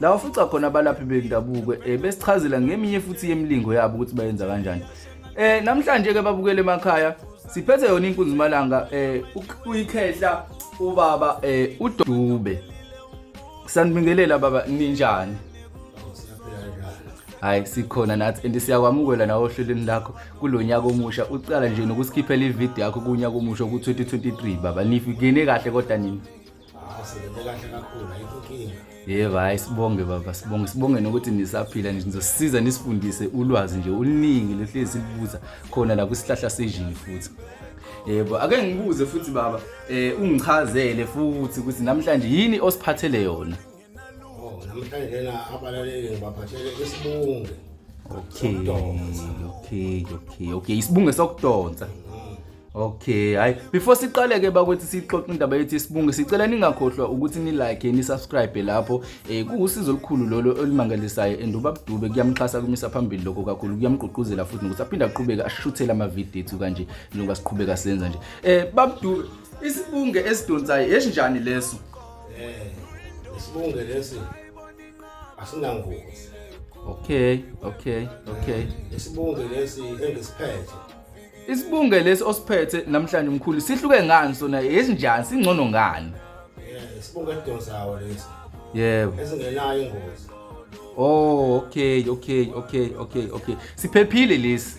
la wafuca khona abalaphi bendabuko um besichazela ngeminye futhi yemilingo yabo ukuthi bayenza kanjani um namhlanje-ke babukele emakhaya siphethe yona inkunzimalanga um uyikhehla ubaba um udube sanibingelela baba ninjani hayi sikhona nathi and siyakwamukela nawe ohlelweni lakho kulo nyaka omusha uqala nje nokusikhiphela ividiyo yakho kunyaka omusha ku-2023 baba nifingene kahle kodwa nini yebo hayi sibonge baba sibonge sibonge nokuthi nisaphila nje nizosisiza nisifundise ulwazi nje oluningi lohlezi silibuza khona la kwisihlahla sejini futhi yebo ake ngibuze futhi baba um ungichazele futhi ukuthi namhlanje yini osiphathele yona Oh, namhlanje lena abalaleli ngibaphathele isibunge. Okay, okay, okay, okay. Isibunge sokudonsa. Okay, hayi before siqale ke bakwethu sixoxe indaba yethu isibunge sicela ningakhohlwa ukuthi ni like ni subscribe lapho eh kuwusizo olukhulu lolo olumangalisayo and ubabdube kuyamxhasa kumisa phambili lokho kakhulu kuyamgqugquzela futhi nokuthi aphinde aqhubeke ashuthele ama video ethu kanje njengoba siqhubeka senza nje eh babdube isibunge esidonsayo esinjani leso Eh, isibunge lesi asinangozi. Okay, okay, okay. Eh, isibunge lesi engisiphethe. Isibunge lesi osiphethe namhlanje mkhulu sihluke ngani sona yesinjani singcono ngani? Eh, isibunge edonsawo lesi. Yebo. Esingenayo ingozi. Oh, okay, okay, okay, okay, okay. Siphephile lesi.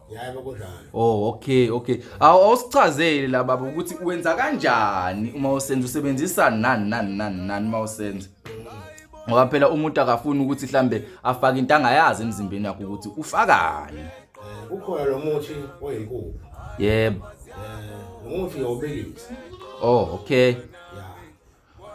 Yebo kunjalo. Oh okay okay. Awu awusichazele la baba ukuthi wenza kanjani uma usenza usebenzisa nani nani nani nani uma usenza. Ngoba phela umuntu akafuni ukuthi mhlambe afake into angayazi emzimbeni yakhe ukuthi ufakani. Eh, Kukhona lo muthi oyinkukhu. Yebo. Eh, Lo muthi yobilisa. Oh okay. Ya.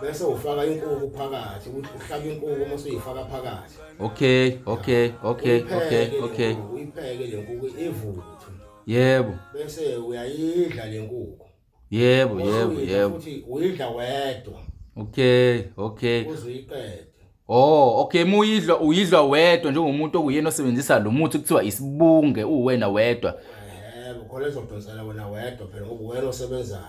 bese ufaka inkuku phakathi uhlaba inkuku uma usuyifaka phakathi okay okay okay okay okay uyipheke le nkuku ivuthwe yebo bese uyayidla le nkuku yebo yebo yebo futhi uyidla wedwa okay okay uzuyiqede Oh, okay muyidlwa uyidlwa wedwa njengomuntu okuyena osebenzisa lo muthi kuthiwa isibunge uwena wedwa. Yebo, khona ezodonsela wena wedwa phela ngoba uwena osebenzayo.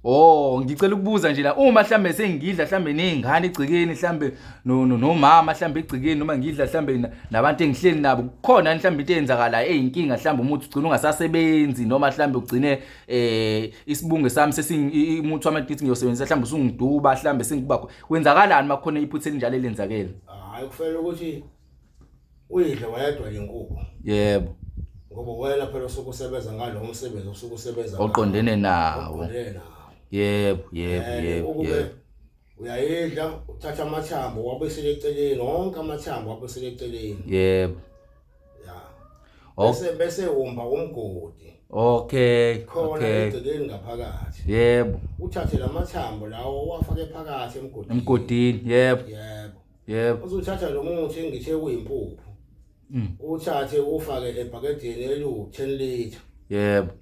Oh, ngicela ukubuza nje la uma mhlambe sengidla mhlambe nezingane egcikeni mhlambe no no- nomama mhlambe egcikeni noma ngidla mhlambe na- nabantu engihleli nabo kukhona mhlambe into eyenzakala eyinkinga mhlambe umuthi ugcina ungasasebenzi noma mhlambe ugcine eh isibunge sami sesingimuthi wamadithi ngiyosebenzisa mhlambe usungiduba mhlambe sengibakho kwenzakalani makhona iphutha elinjalo elenzakele hayi kufanele ukuthi uyidle wayedwa inkukhu yebo ngoba wena phela usuke usebenza ngalo umsebenzi usuke usebenza oqondene nawo yebo yebo eh, yebo yebo uyayidla uthatha amathambo wabuyisele eceleni wonke amathambo wabuyisele eceleni yebo Oh. bese bese umba umgodi Okay. khona Okay. egcekeni ngaphakathi Yebo. uthathe lamathambo lawo uwafake phakathi emgodini Emgodini. Yebo. yebo Yebo. uzothatha lo muthi engithe kuyimpuphu Mm. uthathe ufake ebhakedeni eliwu-10 liter Yebo.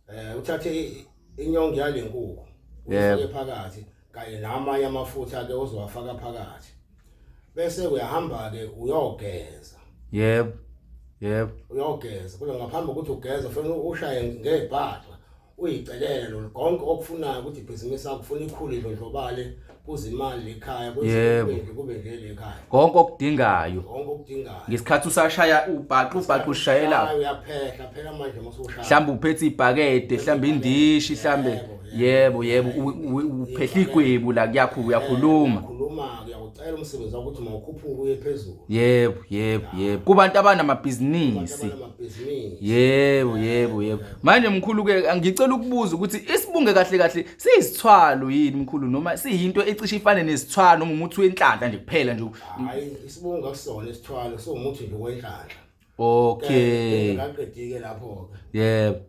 eh uthathe i- inyongo yale nkukhu Yebo. uyifake phakathi kanye namanye amafutha ke ozowafaka phakathi bese uyahamba ke uyogeza yebo yebo uyogeza kodwa ngaphambi kokuthi ugeze fanele ushaye ngebhaxa uyicelele lo konke okufunayo ukuthi ibhizinisi lakho ufuna ikhule idlondlobale kuze imali ekhaya kuze Yebo. kube nje kube nje le ekhaya konke okudingayo konke okudingayo ngesikhathi usashaya ubhaqa ubhaqa ushayela Hayi, uyaphehla phela manje masushaya mhlawumbe uphethe ibhakede mhlawumbe indishi mhlawumbe Yebo, yebo yebo uphehla igwebu la kuyakhulu uyakhuluma khuluma kuyakucela umsebenzi ukuthi mawukhuphuke uye phezulu yebo yebo yebo kubantu abanamabhizinisi yebo yebo yebo manje mkhulu ke ngicela ukubuza ukuthi isibunge kahle kahle siyisithwalo yini mkhulu noma siyinto ecishe ifane nesithwalo noma umuthi wenhlanhla nje kuphela nje hayi isibunge akusona isithwalo so umuthi nje wenhlanhla okay ngaqedike lapho ke yebo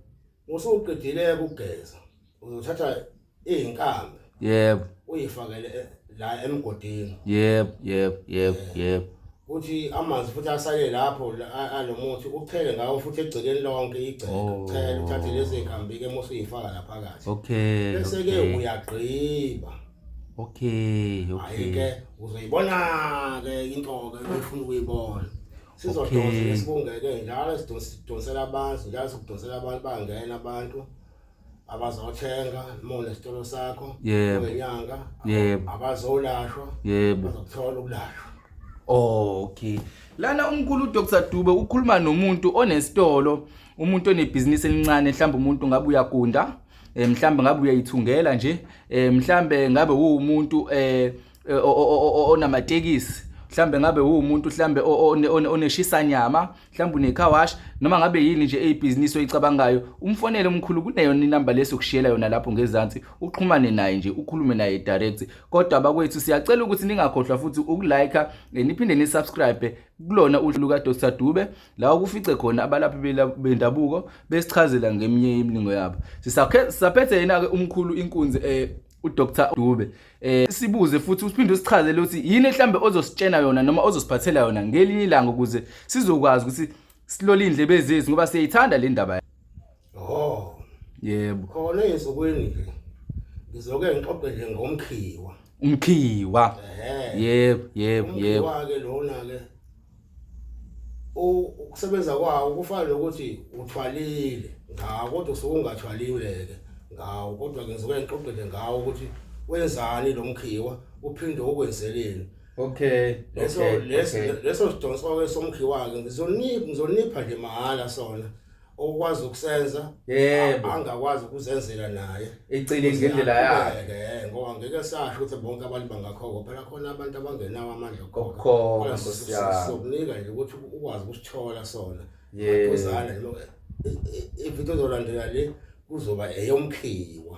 Usuqedile-ke ukugeza, uzothatha iy'nkambi yebo uyifakele e- la emgodini. yebo yebo yebo yebo Kuthi amanzi futhi asale lapho la- a- alo muthi uchele ngawo futhi egcekeni lonke igceke. Oh. Uchele uthathe lezi y'nkambi-ke uma usuyifaka la phakathi. okay Bese-ke okay uyagqiba. okay okay Hhayi-ke uzoyibona-ke into-ke efuna ukuyibona. sizodonsa lesibungeke njalo sidonsela abantu njalo sikudonsela abantu bangena abantu abazothenga mona isitolo sakho ngenyanga abazolashwa bazokuthola ukulashwa okay lana umkhulu uDr Dube ukhuluma nomuntu onesitolo umuntu onebhizinisi elincane mhlawumbe umuntu ngabe uyagunda eh, mhlawumbe ngabe uyayithungela nje eh, mhlawumbe ngabe uwumuntu eh eh, onamatekisi mhlambe ngabe uwumuntu mhlambe oneshisa nyama mhlambe unecar wash noma ngabe yini nje eyibhizinisi oyicabangayo umfonele umkhulu kuneyona inamba leso kushiyela yona lapho ngezansi uxhumane naye nje ukhulume naye direct kodwa bakwethu siyacela ukuthi ningakhohlwa futhi ukulike eh, niphinde nisubscribe kulona uhlu luka Dr Dube la kufice khona abalaphi bendabuko besichazela ngeminye imilingo yabo sisaphethe yena ke umkhulu inkunzi eh uDr Dube eh sibuze futhi usiphinde usichazele ukuthi yini mhlambe ozositshena yona noma ozosiphathela yona ngelinye ilanga ukuze sizokwazi ukuthi silole indlebe zethu ngoba siyayithanda le ndaba oh yebo khona ezokweni nje ngizoke ngixoxe nje ngomkhiwa umkhiwa yebo yebo yebo ke lona ke ukusebenza kwawo kufana nokuthi uthwalile ngawo kodwa usuke ungathwalile-ke ngawo kodwa ke ngisuke ngixoxele ngawo ukuthi wenzani lo mkhiwa uphinde ukwenzeleni okay leso leso sidonso-ke somkhiwa-ke ngizonipha ngizonipha nje mahhala sona okwazi ukusenza yebo angakwazi ukuzenzela naye ecile ngendlela yakhe ngoba ngeke sasho ukuthi bonke abantu bangakhoko phela khona abantu abangenawo amandla okukhokha sokunika nje ukuthi ukwazi ukusithola sona yebo uzana ividiyo zolandela le kuzoba eyomkhiwa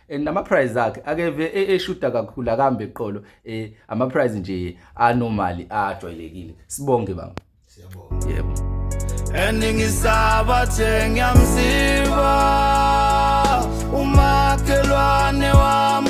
and ama price akhe akeve e, eshuta kakhulu akambe eqolo eh, ama price nje anormal ajwayelekile sibonge baba siyabonga yebo and ngisaba thengiyamsiba umakhelwane wami